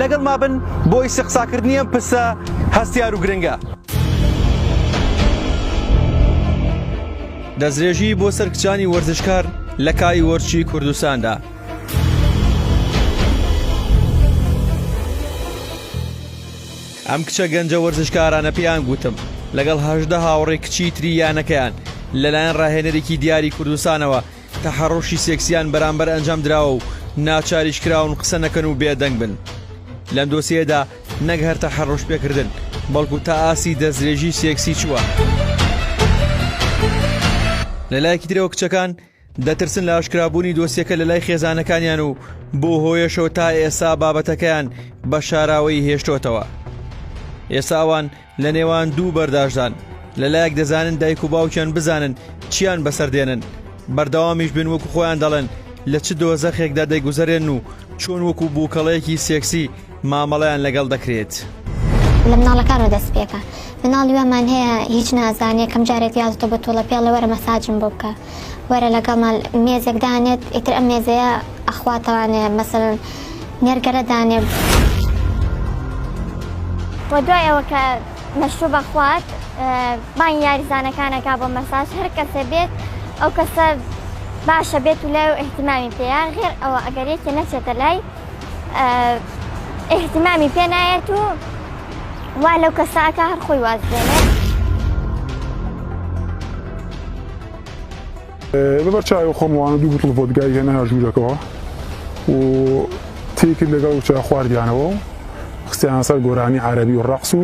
لەگەڵما بن بۆ ئیسیقساکردنی ئەم پرسە هەستیار و گرنگە. دەستدرێژی بۆ سەر کچانی وەرزشکار لە کاری وەرزشی کوردستاندا. ئەم کچە گەنجە وەرزشکارانە پێیان گوتم لەگەڵ هەژدە هاوڕێ کچی تری یانەکەیان لەلایەن ڕاهێنەرێکی دیاری کوردستانەوە تەحەڕوشی سێکسیان بەرامبەر ئەنجام دراوە و ناچاریش کراون قسە نەکەن و بێدەنگ بن. لەم دۆسیەیەدا نەک هەر تەحەڕوش پێکردن، بەڵکو تا ئاستی دەستدرێژی سێکسی چووە. لە لایەکی ترەوە کچەکان دەترسن لە ئاشکرابوونی دۆسیەکە لە لای خێزانەکانیان و بەو هۆیەشەوە تا ئێستا بابەتەکەیان بە شاراوەیی هێشتۆتەوە. ئێستا ئەوان لە نێوان دوو بەرداشدان، لە لایەک دەزانن دایک و باوکیان بزانن چیان بەسەر دێنن، بەردەوامیش بن وەکو خۆیان دەڵێن لە چ دۆزەخێکدا دەگوزەرێن و چۆن وەکو بووکەڵەیەکی سێکسی مامەڵەیان لەگەڵ دەکرێت. لە مناڵەکانەوە دەست پێکە. مناڵی وامان هەیە هیچ نازانێ، یەکەم جار یادتە بە توڵە پێڵێ وەرە مەساجم بۆ بکە. وەرە لەگەڵمان مێزێک دانێت ئیتر ئەم مێزەیە ئەخواتەوانێ مەسەن نێرگەلە دانێ وە دوای ئەوە کە مەشروب بەخوات بانگ یاریزانەکانەکە بۆ مەساج هەر کەسێ بێت ئەو کەسە باشە بێت و لای و احتیمامی پێەیە غێر ئەوە ئەگەر یەکێ نەچێتە لای احتیمامی پێ نایەت و وا لەو کەساکە هەر خۆی وازێنێت. لەبەر چاوی خۆم ڕوانە دوو بتڵ ڤۆدگای هێناە ژوورەکەوە و تێی کرد لەگەڵ وچە خواردیانەوە و خستیانە سەر گۆرانی عربی و ڕەقس و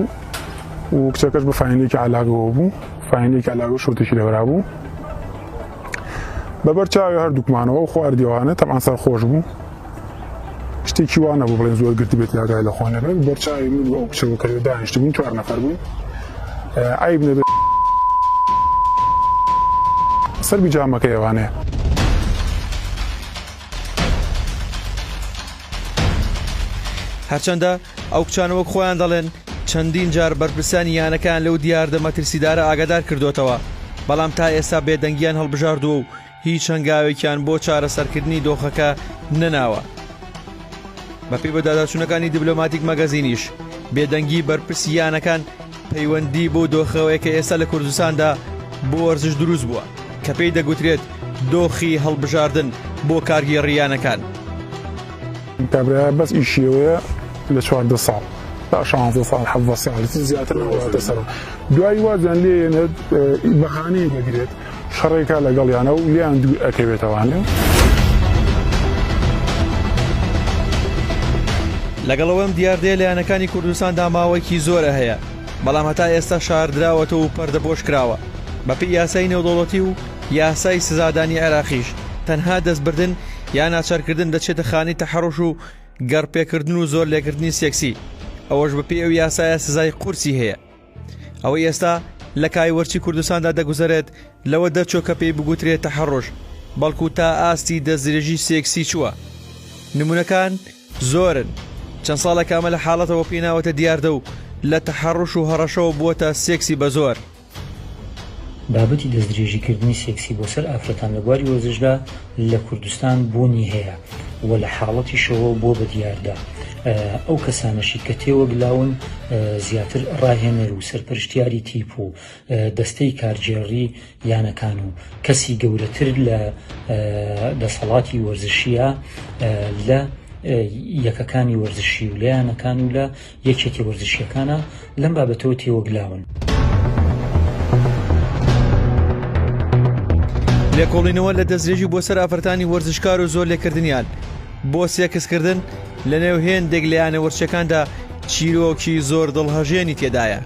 و کچەکەش بە فاینێکی علاگەوە بوو فاینێکی علاگە شوتێکی لەبرا بوو بەبەر چاوی هەردووکمانەوە خواردیوانە تەمان سەر خۆش بوو شتێکی وا نەبوو بڵێن زۆر گرتی بێت یاگای لە خۆ نەبێت بەرچاوی من بە ئەو کچەوە کردو دانیشت بووین چوار نەفەر بووین عیب نەبێت سەر بیجامەکە ئێوانەیە هەرچەندە ئەو کچانەوەک خۆیان دەڵێن چەندین جار بەرپرسانی یانەکان لەو دیاردە مەترسیدارە ئاگادار کردوتەوە بەڵام تا ئێستا بێدەنگیان هەڵبژاردووە و هیچ هەنگاوێکیان بۆ چارەسەرکردنی دۆخەکە نەناوە. بەپێی بەداداچوونەکانی دیبلۆماتیک مەگەزینیش بێدەنگی بەرپرسی یانەکان پەیوەندی بۆ دۆخەوەی کە ئێستا لە کوردستاندا بۆ وەرزش دروست بووە کە پێی دەگوترێت دۆخی هەڵبژاردن بۆ کارگێڕی یانەکان. کابرایە بەس ئیشی ئەوەیە لە چواردە ساڵ تا شانزە ساڵ حەڤدە ساڵ زیاتر نەواتە سەرە دوایی وازیان لێ یەنێت بەهانەیە دەگرێت شەڕێکە لەگەڵیانە و لێیان دوور ئەکەوێتەوانێ. لەگەڵ ئەوەی ئەم دیاردەیە لە یانەکانی کوردستاندا ماوەیەکی زۆرە هەیە، بەڵام هەتا ئێستا شاردراوەتەوە و پەردەپۆش کراوە. بەپێی یاسای نێودەوڵەتی و یاسای سزادانی عێراقیش تەنها دەستبردن یا ناچارکردن دەچێتە خانەی تەحەڕوش و گەڕپێکردن و زۆرلێکردنی سێکسی، ئەوەش بەپێی ئەو یاسایە سزای قورسی هەیە. ئەوەی ئێستا لە کایوەرچی کوردستاندا دەگوزەرێت لەوە دەرچۆ کە پێی بگوترێت تەحەڕۆژ بەڵکو تا ئاستی دەستدرێژی سێکسی چووە نمونونەکان زۆرن چەند ساڵە کامە لە حاڵەتەوە پێیناوەتە دیاردە و لە تەحەڕش و هەڕەشەوە بووەتە سێکسی بە زۆر بابەتی دەستدرێژیکردنی سێکسی بۆ سەر ئافرەتان لە بواری وەرزشدا لە کوردستان بوونی هەیە و لە حاڵەتیشەوە بۆ بە دیاردە ئەو کەسانەشی کە تێوەگلاون زیاتر ڕاهێنەر و سەرپەرشتیاری تیپ و دەستەی کارگێڕی یانەکان و کەسی گەورەتر لە دەسەڵاتی وەرزشیە لە یەکەکانی وەرزشی و لە یانەکان و لە یەکێتی وەرزشیەکانە لەم بابەتەوە تێوەگلاون. لێکۆڵینەوە لە دەستدرێژی بۆ سەر ئافرەتانی وەرزشکار و زۆر لێکردنیان بۆ سێکسکردن لە نێو هێندێک لە یانە وەرچەکاندا چیرۆکی زۆر دڵهەژێنی تێدایە.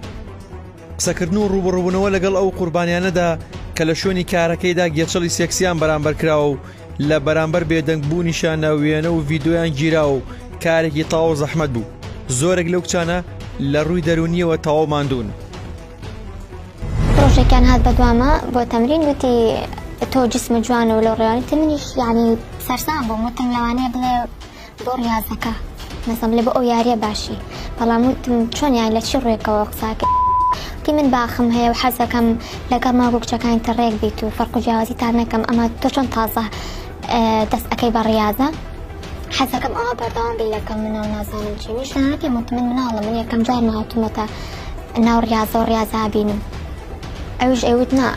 قسەکردن و ڕووبەڕووبوونەوە لەگەڵ ئەو قوربانیانەدا کە لە شوێنی کارەکەیدا گێچەڵی سێکسیان بەرامبەر کراوە و لە بەرامبەر بێدەنگ بوونیشا نە وێنە و ڤیدۆیان گیراوە و کارێکی تەواو زەحمەت بوو زۆرێک لەو کچانە لە ڕووی دەرونیەوە تەواو ماندوون. ڕۆژێکیان هات بەدوامە بۆ تەمرین وتی تۆ جسمە جوانە و لەو ڕێوانیتە منیش یعنی سەرسام بووم وتم لەوانەیە بڵێ بۆ ڕیاضەکە بەسم لە بۆ ئەو یاریە باشی بەڵام وتم چۆن یان لە چی ڕێکەوە قساکە تی من باخم هەیە و حەزەکەم لەگەڵ ماگو کچەکانی تە ڕێک بیت و فەرق و جیاوازی تا نەکەم ئەمە تۆ چۆن تازە دەست ئەەکەی بە ڕاضە حەزەکەم ئەوە بەردەوام بی لەکەم مناڵ نازانم چی نیش پێم وت من مناڵە من یەکەم جار ناوتمەتە ناو ڕاضە و ڕاضا بینم ئەوش ئەوت نا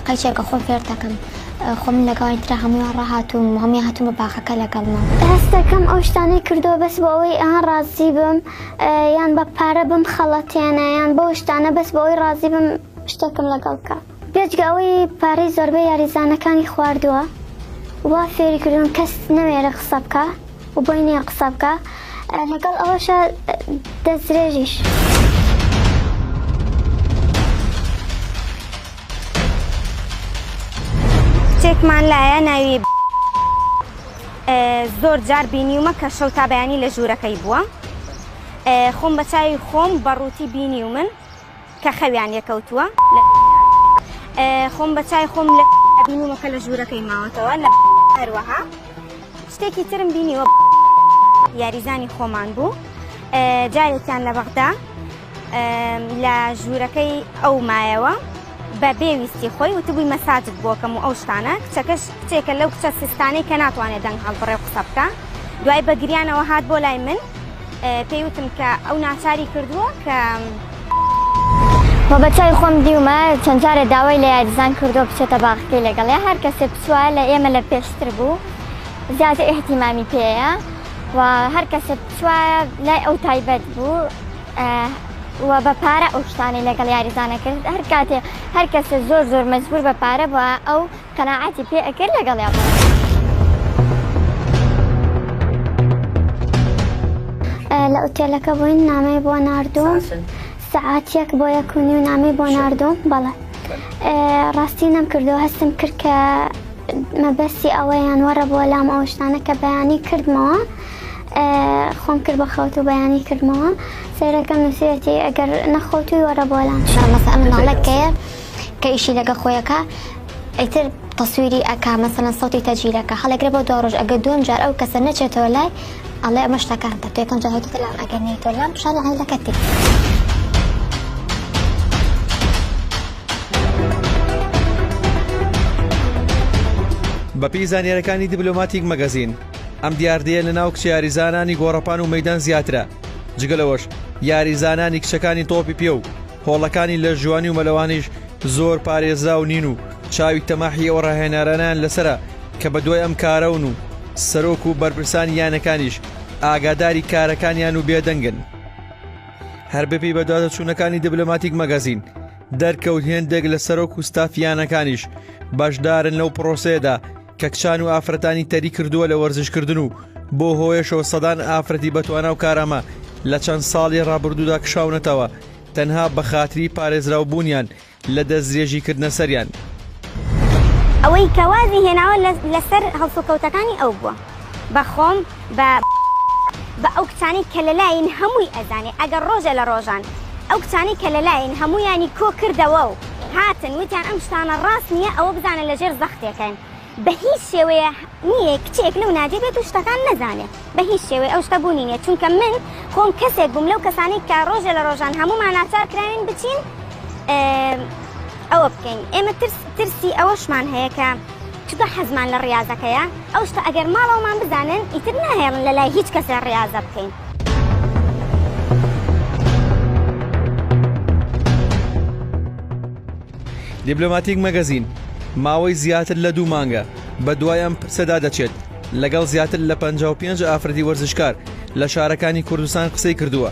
قەیچێکە خۆ فێرتەکەم خۆ من لەگەڵ ئەوانی ترا هەموویان ڕاهاتووم و هەموویان هاتوون بە باخەکە لەگەڵما. هەست دەکەم ئەو شتانەی کردووە بەس بۆ ئەوەی یان ڕازی بم یان بە پارە بمخەڵەتێنێ یان بەو شتانە بەس بۆ ئەوەی ڕازی بم شتێکم لەگەڵ بکا. بێجگە ئەوەی پارەی زۆربەی یاریزانەکانی خواردووە و وا فێری کردوون کەس نەوێرێ قسە بکا. و بۆی نیە قسە بکا لەگەڵ ئەوەشە دەستدرێژیش. کچێکمان لایە ناوی زۆر جار بینیومە کە شەو تا بەیانی لە ژوورەکەی بووە خۆم بە چاوی خۆم بە ڕووتی بینی و من کە خەویان لێ کەوتووە لە دونیا خۆم بە چای خۆم لە بینیمە کە لە ژوورەکەی ماوەتەوە لە هەروەها شتێکی ترم بینیوە یاریزانی خۆمان بوو جارێکیان لە بەغدا لە ژوورەکەی ئەو مایەوە بە بێویستی خۆی وتبووی مەساجد بۆکەم و ئەو شتانە کچەکەش کچێکە لەو کچە سستانەی کە ناتوانێت دەنگ هەڵبڕێ قسە بکە دوای بە گریانەوە هات بۆ لای من پێی وتم کە ئەو ناچاری کردووە کە بە چای خۆم دیومە چەند جارێ داوای لە یاریزان کردو بچێتە باخەکەی لەگەڵ یا هەر کەسێ بچوە لە ئێمە لە پێشتر بوو زیاتر احتیمامی پێەیە و هەر کەسێ بچوە لای ئەو تایبەت بوو و بە پارە ئەو شتانی لەگەڵ یاریزانە کرد هەر کاتێ هەر کەسێ زۆر زۆر مەجبور بە پارە بووە ئەو قەناعەتی پێ ئەکرد لەگەڵیا بڕۆن. لە ئوتێلەکە بووین نامەی بۆ نردوم سعاتیەک بۆ یەکونی و نامی بۆ نردوم بەڵێ ڕاستی نەم کردەوە هەستم کرد کە مەبەستی ئەوەیان وەڕە بۆ لام ئەو شتانە کە بەیانی کردمەوە خۆم کرد بە خەوت و بەیانی کردمەوە سەیرەکەم نووسەتی ئەگەر نەخۆتوی وەرە بۆ لام شڵەکە ئەم ناڵەکەیە کە ئیشی لەگە خۆیەکە ئیتر تەسویری ئەکا مەسەن سەوتی تەجیلەکە هەڵێگرە بۆ دو ڕۆژ ئەگە دوم جار ئەو کەسە نەچێتەوە لای ئەڵێ ئەمە شتەکان تە تێکم جاهوت لام ئەگەر نیتۆ لام شانی عیلەکە تێ. بەپێی زانیارەکانی دیبلۆماتیک مەگەزین ئەم دیاردەیە لە ناو کچە یاریزانانی گۆڕەپان و مەدان زیاترە جگەلەوەش یاریزانانی کچەکانی تۆپی پێ و هۆڵەکانی لەشجوانی و مەلەوانیش زۆر پارێزراو نین و چاوی تەماحی ئەو ڕاهێنارانەیان لەسەرە کە بەدوای ئەم کارەون و سەرۆک و بەرپرسانی یانەکانیش ئاگاداری کارەکانیان و بێدەنگن. هەر بەپێی بەدواداچوونەکانی دبلۆماتیک مەگەزین دەرکەوت هێندێک لە سەرۆک و ستاف یانەکانیش بەشدارن لەو پرۆسەیەدا، کەکچان و ئافرەتانی تەری کردووە لە وەرزشکردن و بۆ هۆیەشەوە سەدان ئافرەتی بەتوانا و کارامە لە چەند ساڵی ڕابردوودا کشاونەتەوە تەنها بە خاتری پارێزراو بوونیان لە دەستدرێژی کردنە سەریان. ئەوەی کە وازی هێناوە لەسەر هەڵسوکەوتەکانی ئەو بووە بە خۆم. بە بە ئەو کچانەی کە لەلاین هەمووی ئەزانێ ئەگەر ڕۆژێ لە ڕۆژان ئەو کچانەی کە لەلاین هەموویانی کۆ کردەوە و هاتن وتیان ئەم شتانە ڕاست نییە ئەوە بزانە لە ژێر زەختێکین بە هیچ شێوەیە نییە کچێک لەو ناجێ بێت و شتەکان نەزانێ بە هیچ شێوەی ئەو شتە بوونی نیە چونکە من خۆم کەسێک بووم لەو کەسانەی کە ڕۆژێ لە ڕۆژان هەموومان ناچار کراوین بچین ئەوە بکەین ئێمە ترس ترسی ئەوەشمان هەیە کە چونکە حەزمان لە ڕیازەکەیە، ئەو شتە ئەگەر ماڵەوەمان بزانن ئیتر ناهێڵن لە لای هیچ کەسێ ڕیازە بکەین. دیبلۆماتیک مەگەزین، ماوەی زیاتر لە دوو مانگە بە دوای ئەم پرسەدا دەچێت، لەگەڵ زیاتر لە پەنجا و پێنج ئافرەتی وەرزشکار لە شارەکانی کوردستان قسەی کردووە،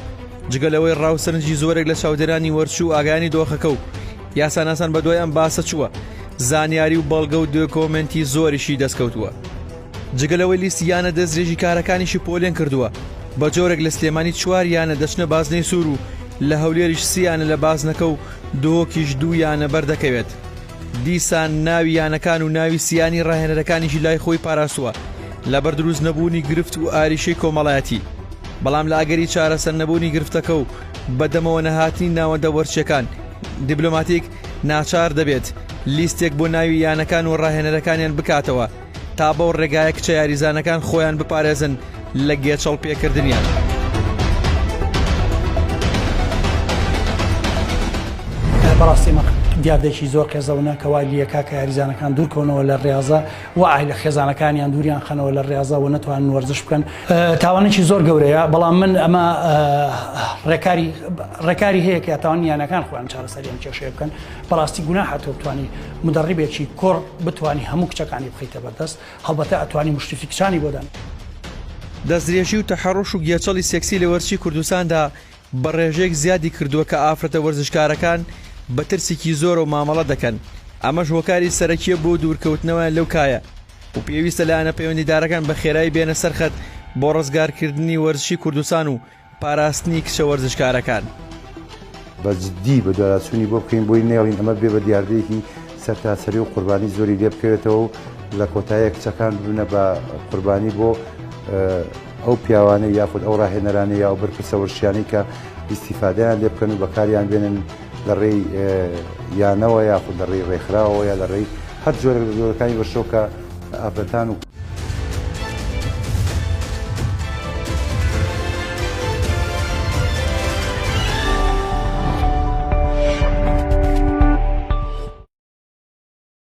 جگە لەوەی ڕاوسەرنجی زۆرێک لە چاودێرانی وەرچوو ئاگایانی دۆخەکە و یاساناسان بەدوای ئەم باسە چووە زانیاری و بەڵگە و دۆکۆمنتی زۆریشی دەستکەوتووە جگە لەوەی لیستی یانە دەستێژی کارەکانیشی پۆلێن کردووە بە جۆرێک لە سلێمانی چوار یانە دەچنە بازنەی سوور و لە هەولێریش سییانە لە بازنەکە و دۆکیش دوو یانە بەردەکەوێت دیسان ناوی یانەکان و ناوی سیانی ڕاهێنەرەکانیشی لای خۆی پاراستووە لەبەر دروست نەبوونی گرفت و ئاریشەی کۆمەڵایەتی بەڵام لە ئەگەری چارەسەر نەبوونی گرفتەکە و بە دەمەوە نەهاتنی ناوەندە وەرچیەکان، دیبلۆماتیک ناچار دەبێت لیستێک بۆ ناوی یانەکان و راهێنەرەکانیان بکاتەوە تا بەو رێگایە کچە یاریزانەکان خۆیان بپارێزن لە گێچەڵ پێکردنیان. بەڕاستی ئەمە دیاردەیەکی زۆر قێزەونە کە وای لییە کاکە یاریزانەکان دوورکەونەوە لە ریاضە. وە ئای لە خێزانەکانیان دووریان خەنەوە لە ڕاضە وە نەتوانن وەرزش بکەن تاوانێکی زۆر گەورەیە بەڵام من ئەمە ڕێکاری ڕێکاری هەیە کە تاوان یانەکان خۆیان چارەسەریان کێشەیە بکەن بەڕاستی گونا هاتۆ بتانی مدەڕیبێکی کۆڕ بتانی هەموو کچەکانی بخیتە بەردەست هەڵبەتە ئەتوانی مشتفی کچانی بۆدان دەستدرێژی و تەحەڕوش و گێچەڵی سێکسی لە وەرزشی کوردستاندا بە ڕێژەیەک زیادی کردووە کە ئافرەتە وەرزشکارەکان بە ترسێکی زۆرەوە مامەڵە دەکەن، ئەمەش هۆکاری سەرەکییە بۆ دوورکەوتنەوەیان لەو کایە و پێویستە لایەنە پەیوەندیدارەکان بە خێرایی بێنە سەر خەت بۆ ڕزگارکردنی وەرزشی کوردستان و پاراستنی کچە وەرزشکارەکان. بە جدی بەدواداچوونی بۆ بکەین، بۆی نەیەڵین ئەمە بێ بە دیاردەیەکی سەرتاسەری و قوربانی زۆری لێ بکەوێتەوە و لە کۆتاییا کچەکان ببنە بە قوربانی بۆ. ئەو پیاوانەی یاخود ئەو ڕاهێنەرانەی یا ئەو بەرپرسە وەرزشیانەی کە ئیستیفادەیان لێ بکەن و بەکاریان بێنن لە ڕێی یانەوە یاخود لە ڕێی ڕێکخراوەوە یا لە ڕێی هەر جۆرێک لە جۆرەکانی وەرشەوە کە ئافرەتان و